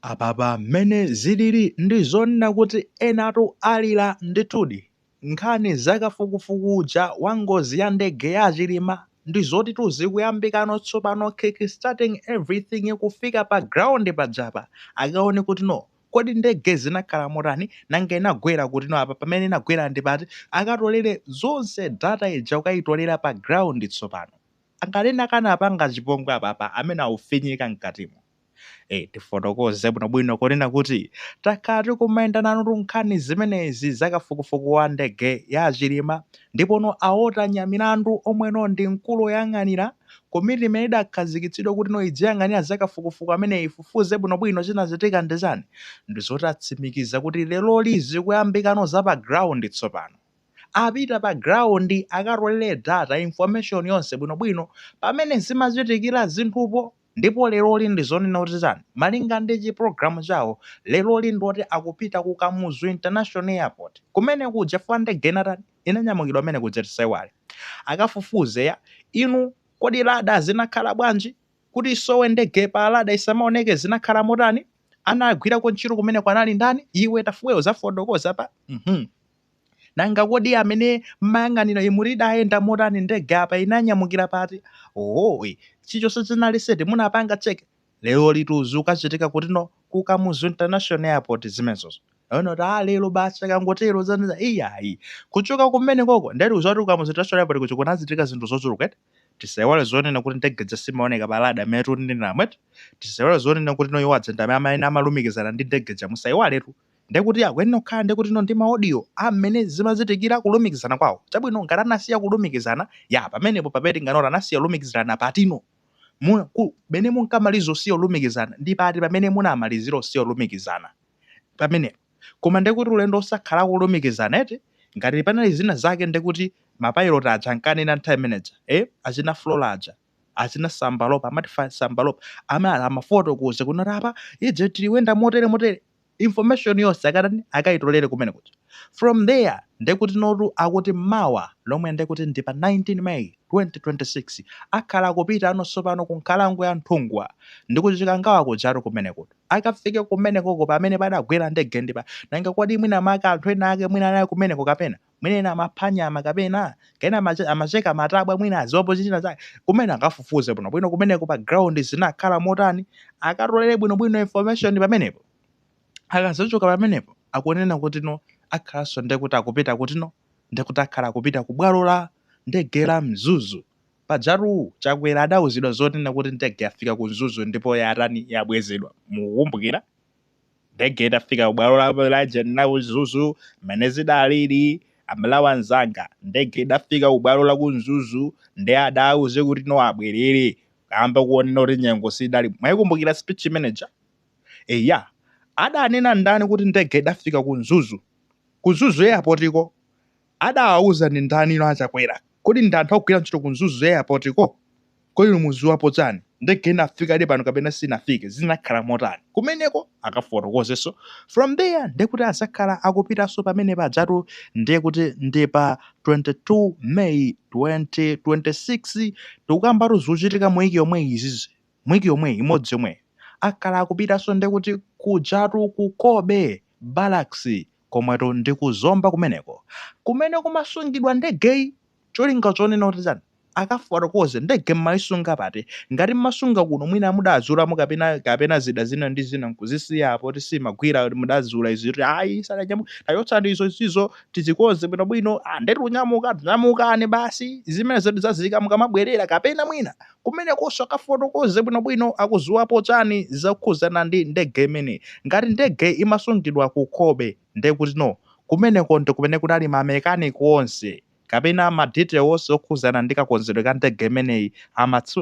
Apapa mmene zilili ndi zonena kuti enatu alira ndithudi. Nkhani za kafukufuku uja wa ngozi ya ndege ya Chilima ndi zotitu zikuyambikano tsopano kickstarting everything kufika pa ground pajapa akaone kuti no kodi ndege zinakhala motani nanga inagwera kuti no apa pamene inagwera ndi pati akatolere zonse data ija kukaitolera pa ground tsopano. Ngati ena akanapanga chipongwe apapa amene aufinyika mkatimo. Eh, tifotokoze bwinobwino kunena kuti takhala tikumayenda nanutu nkhani zimenezi za kafukufuku wa ndege ya Chilima ndipono a Walter Nyamilandu omweno ndi mkulu woyang'anira komiti imene idakhazikitsidwa kuti no idziyang'anira za kafukufuku amene ifufuze bwinobwino chinachitika ndi chani ndizoti atsimikiza kuti leroli zikuyambikano za pa ground tsopano apita pa ground akatolere data information yonse bwinobwino pamene zimachitikira zinthupo Ndipo leroli ndi zonena kuti zitani, malinga ndi chi program chawo leroli ndi oti akupita ku Kamuzu International Airport kumene kuja chifukwa ndege inatani, inanyamukira kumene kuja tisaiwale. Akafufuze ya inu kodi radar zinakhala bwanji kuti isowe ndege pa radar isamaoneke zinakhala motani, anagwirako ntchito kumeneko anali ndani, iwe Tafuwe uzafotokoza pa, mmh. Nanga kodi amene mmayang'anira imuri idayenda motani ndege apa inanyamukira pati? Oooy chichonse chinali set munapanga check? Lerolitu zikukachitika kutino ku Kamuzu International Airport zimenezozo. Ena kuti aah lero basi akangotero zandithera iyayi. Kuchoka kumenekoko nde tikuziwa kuti ku Kamuzu International Airport kuja kunachitika zinthu zochuluka eti? Tisaiwale zonena kuti ndege ija simaoneka pa radar mmene tikuneneramu eti? Tisaiwale zonena kutino iwo aja ndi amene amalumikizana ndi ndege ija musaiwaletu. Ndekuti akuyenera kukhala ndikutino ndi ma audio a mmene zimachitikira kulumikizana kwawo. Chabwino, ngati anasiya kulumikizana, ya, pamenepo pamene tingana kuti anasiya kulumikizirana patino? Mu, ku, mene munkamaliza kusiya kulumikizana, ndi pati pamene munamalizira kusiya kulumikizana? Pamenepo. Koma ndekuti ulendo onse akhala akulumikizana, eti? Ngati panali zina zake ndekuti ma pilot aja ankanena nthawi imeneja, eh, achina Flora aja. achina Sambalopa amati fa Sambalopa amati amafotokoze kuno kuti apa ife tiliwenda motere motere information yonse akatani akayitolere kumene kuja from there ndekuti notu akuti mawa lomwe ndekuti ndi pa 19 May 2026 akhala akupitano tsopano ku nkhalango ya Nthungwa ndi ku Chikangawa kujatu kumene kuja akafike kumenekoko pamene padagwera ndege ndi apa nanga kodi mwina maka anthu ena ake mwina anali kumeneko kapena mwina ena amapha nyama kapena ena amacheka matabwa mwina aziwapo china chake kumene akafufuze bwino bwino kumeneko pa ground zinakhala motani akatolere bwino bwino information pamenepo akazochoka pamenepo akunena kuti no akhalanso nde kuti akupita kuti no nde kuti akhala akupita ku bwalo la ndege la mzuzu pajatu chakwera adauzidwa zonena kuti ndege yafika ku mzuzu ndipo yatani yabwezedwa mukukumbukira Ndege idafika kubwalo la, la ujeni ku Mzuzu mmene zidalili aMalawi anzanga ndege idafika kubwalo la ku Mzuzu ndi adauze kuti no abwerere kamba kuonena kuti nyengo sidali mwayikumbukira speech imeneja eya adanena ndani kuti ndege idafika ku Mzuzu ku Mzuzu airport ko Adawauza ndi ndani inu a Chakwera? Kodi ndi anthu ogwira ntchito ku Mzuzu airport ko? Kodi inu muziwapo chani? Ndege inafikadi pano kapena sinafike? Zinakhala motani? Kumeneko akafotokozenso. From there ndiye kuti azakhala akupitanso pamene pajatu ndiye kuti ndi pa 22 May 2026 tikukambatu zikuchitika muwiki yomweyi izi. Muwiki yomweyi imodzi yomweyi. Akhala akupitanso ndiye kuti kujatu ku Cobbe barracks komweko ndi ku zomba kumeneko kumene kumasungidwa ndegeyi cholinga chonena kuti chani akafotokoze ndege mmaisunga pati ngati mmasunga kuno mwina mudazulamo apa kapena zida zina ndi zina nkuzisiyapo kuti simagwira kuti mudazula izi kuti ayi sananyamuke tachotsani izo izizo tizikonze bwinobwino ah, nde tikunyamuka nyamukani basi zimene zidzadziwika mukamabwerera kapena mwina kumenekoso akafotokoze bwinobwino akuziwapo chani zokhuzana ndi ndege imeneyi. Ngati ndege imasungidwa ku Cobbe nde kuti no kumeneko ndi kumene kunali ma mechanic onse kapena ma detail onse okhuzana ndi kakonzedwe ka ndege imeneyi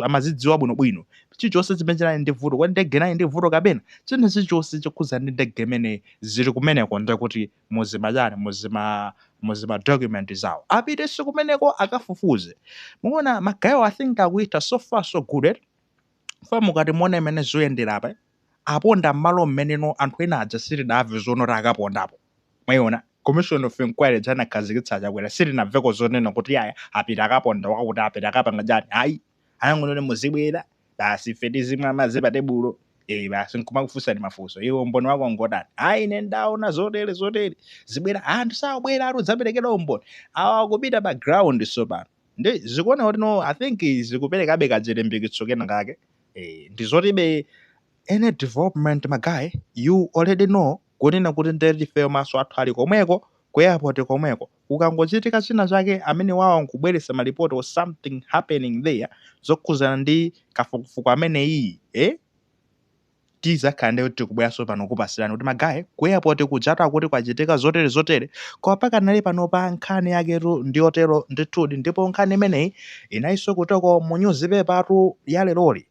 amazidziwa bwinobwino chilichose chimene chinali ndi vuto. Kodi ndege inali ndi vuto kapena china chilichose chokhuzana ndi ndege imeneyi zili kumeneko nde kuti no. muzima chani muzima muzima document zawo apitenso kumeneko akafufuze mukuona magayewo i think akuita so far so good eh? fa mukati muona mmene zikuyendera apa aponda mmalo mmenemo anthu ena aja sitinamve zonoti akapondapo mwaiona commission of inquiry ija anakhazikitsa chakwera sitinamveko zonena kuti iya apita akaponda pakuti apita akapanga chani ayi anangonena kuti muzibwera basi ife tizimwa madzi pa tebulo eh basi nkumakufunsani mafunso iwe umboni wako ngotani ayi ine ndaona zotere zotere muzibwera anthu sakubwera ati uzapereke umboni awa akupita pa ground sopano ndiye ndikuona kuti no i think zikuperekabe kachilimbikitso kena kake eh ndi zoti be any development magaye you already know kunena kuti ndetife maso athu ali komweko ku airport komweko kukangochitika china chake amenewawa nkubweretsa ma report or something happening there zokhuzana ndi kafukufuku ameneyii eh? tizakhala nde tikubweranso pano kupasirani kuti ma guy ku airport kujatu akuti kwachitika zotere zotere koma pakanali panopa nkhani yaketu ndi yotero ndithudi ndipo nkhani imeneyi inayinso kutoko mu newspapertu ya leroli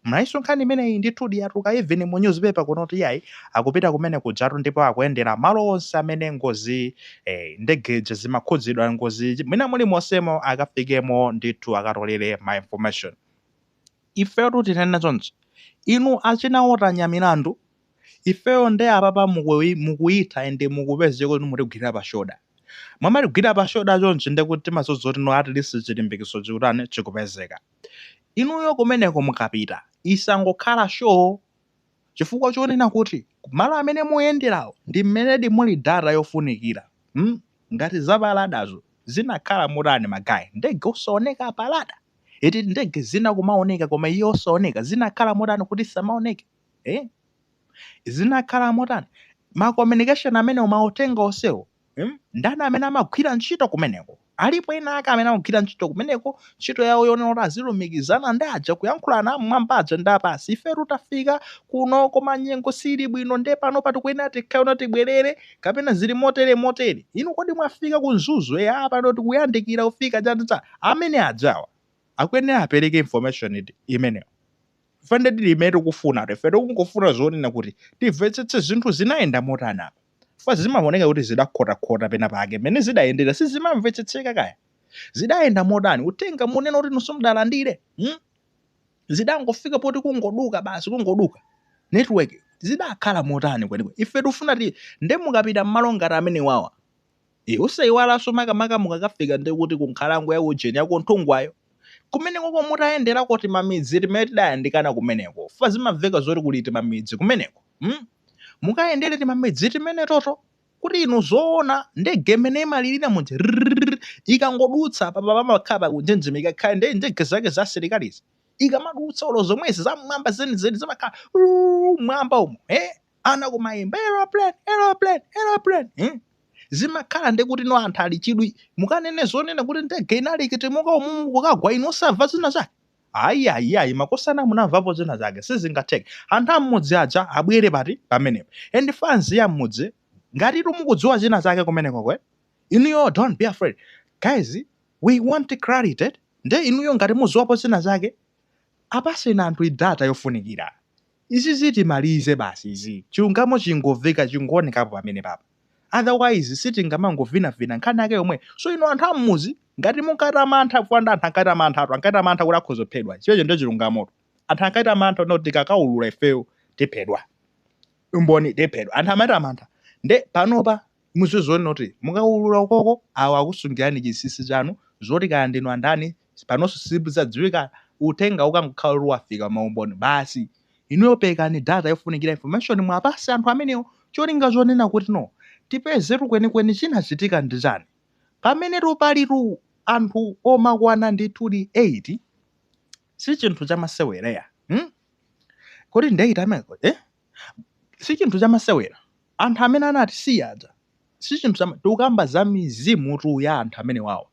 Mnayinso nkhani imeneyi ndithudi yatuluka even mu news paper kuno kuti iyayi akupita kumene kujatu ndipo akuyendera malo onse amene ngozi eh, ndege ija imakhudzidwa ngozi ija mwina muli monsemo akafikemo ndithu akatolere ma information ifeyotu tinene chonchi inu achina otanya milandu ifeyo nde apapa mukuyi- mukuyitha ende mukupezeka kuti mutigwira pa shoulder mumatigwira pa shoulder chonchi nde kuti timati no at least chilimbikitso chikutani chikupezeka Inuyo kumeneko mukapita, isangokhala show chifukwa chonena kuti malo amene muyenderawo ndi mmenedi muli data yofunikira. mm ngati za pa ladazo zinakhala motani ma guy? Ndege osaoneka pa lada? Eti ndege zina kumaoneka koma iyi osaoneka, zinakhala motani kuti isamaoneke? eh? zinakhala motani ma communication amenewo mauthenga onsewo hmm? ndani amene amagwira ntchito kumeneko alipo ena ake amene amagwira ntchito kumeneko ntchito yawo yonena kuti azilumikizana ndi aja kuyankhulana mmwamba aja ndi apasi ifetu tafika kuno koma nyengo sili bwino nde pano tikuyenera tikhoza tibwerere kapena zili motere motere inu kodi mwafika ku mzuzu eya pano tikuyandikira kufika chaticha amene ajawa akuyenera apereke information imeneyo Ife nde ndi mmene tikufunatu, ife tikungofuna zoona kuti timvetsetse zinthu zinayenda motani apa. Chifukwa zimaoneka kuti zidakhotakhota penapake, mmene zidayendera sizimamvetsetseka kaya. Zidayenda motani? Uthenga munena kuti inu simudalandire? Hmm? Zidangofika poti kungoduka basi, kungoduka. Network zidakhala motani kwenikweni? Ife tikufuna ti nde mukapita mmalo ngati amenewawa, e, osaiwalanso makamaka mukakafika ndi kuti ku nkhalango ya ujeni ya kunthungwayo kumenekoko mukayendereko timamidzi timene tidayandikana kumeneko fa zimamveka zoti kuli timamidzi kumeneko mm? mukayendere timamidzi timenetoto kuti inu zoona ndege imene imalirira muja rrrr, ikangodutsa papa pamakhala pakunjenjemera ikakhala ndi ndege zake za asilikalizi ikamadutsa olo zomwezi zam'mwamba zenizeni zimakhala "Uu, mwamba umo eh? ana kumayimba aeroplane aeroplane aeroplane eh? zimakhala ndi kuti no anthu ali chidwi mukanene zonena kuti ndege inali ikutimuka umumu kukagwa inu osamva china chake ayi ayi ayi makosana munamvapo china chake sizingatheke anthu am'mudzi aja abwere pati pamenepo and fans ya m'mudzi ngati inu mukudziwa china chake kumenekoko inuyo don't be afraid guys we want clarity nde inuyo ngati muziwapo china chake apaseni anthu data yofunikira Izizi timalize basi izi chilungamo chingoveka chingoonekapo pamenepapa otherwise sitingamangovinavina nkhani yake yomweyo so inu anthu ammudzi ngati munkachita mantha chifukwa ndi anthu ankachita manthatu ankachita mantha kuti akhoza kuphedwa chimenecho ndiye chilungamotu anthu ankachita mantha onena kuti tikakaulula ifeyo tiphedwa umboni tiphedwa anthu amachita mantha ndiye panopa Muziziona kuti mukaulula ukoko awo akusungirani chinsinsi chanu zoti kaya ndinu andani panonso sizidzadziwika uthenga ukangokhala kuti wafika maumboni basi inuyo perekani data yofunikira information muwapatse anthu amenewo cholinga chonena kuti no tipezetu kwenikweni chinachitika ndi chani pamenetu palitu anthu okwana ndithudi 8 sichinthu chamasewera mm kodi ndi 8 amenewo eh. sichinthu chamasewera anthu amene anatisiya aja sichinthu chama tikukamba za mizimutu ya anthu amenewawo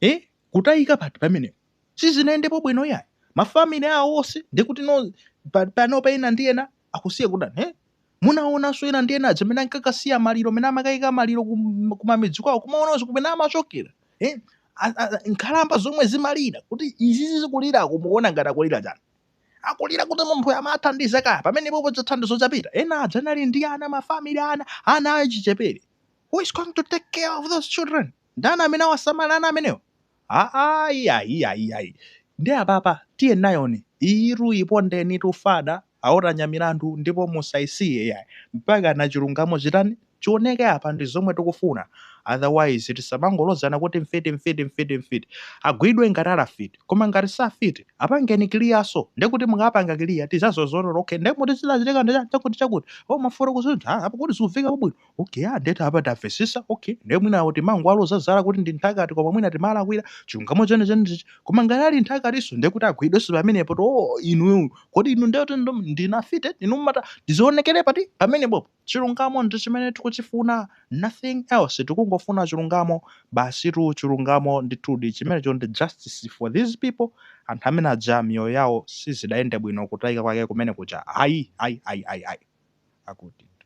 eh? kutayika pati pamenepo sizinayendepo bwino yayi mafamili awo onse ndikuti no pa- panopa ena ndi ena akusiya kutani eh? munaonanso ena ndi ena aja amene ankakasiya maliro amene amakaika maliro kum- kumamidzi kwawo kumaonanso kumene amachokera eh? A- a- a- nkhalamba zomwe zimalira kuti izizi zikulirazo mukuona ngati akulira chani akulira kuti munthu amathandiza kaya pamenepopo chithandizo chapita ena aja anali ndi ana mafamili ana ana achichepere who is going to take care of those children ndani amene awasamala ana amenewo aaiaiaiai ndi apapa tiyeni nayoni iyitu ipondeni fadaa awo atenga milandu ndipo musayisiye yayi mpaka na chilungamo chitani chioneke apa ndizomwe tikufuna otherwise tisamangolozana kuti mfiti mfiti mfiti mfiti agwidwe ngati ali afiti koma ngati si afiti apangeni clear so ndekuti mukapanga clear tizaziziwa okay ndekuti zinachitika ndi chakuti chakuti oh maforo kuzintha ah, apa kuti zikuveka bwino okay ah ndekuti apa tamvetsetsa okay nde mwina kuti timangowalozera zala kuti ndi nthakati koma mwina timalakwira chilungamo cheni cheni ichi koma ngati ali nthakatiso ndekuti agwidwenso pamenepo to oh inu kodi inu ndekuti ndinu afiti inu mata zionekere pati pamenepo Chilungamo ndi chimene tikuchifuna nothing else tikungofuna chilungamo basitu chilungamo ndithudi chimenecho ndi justice for these people anthu amene aja miyoyo yawo sizidayende bwino kutayika kwake kumene kuja ayi ayi ayi ayi ayi akutitu.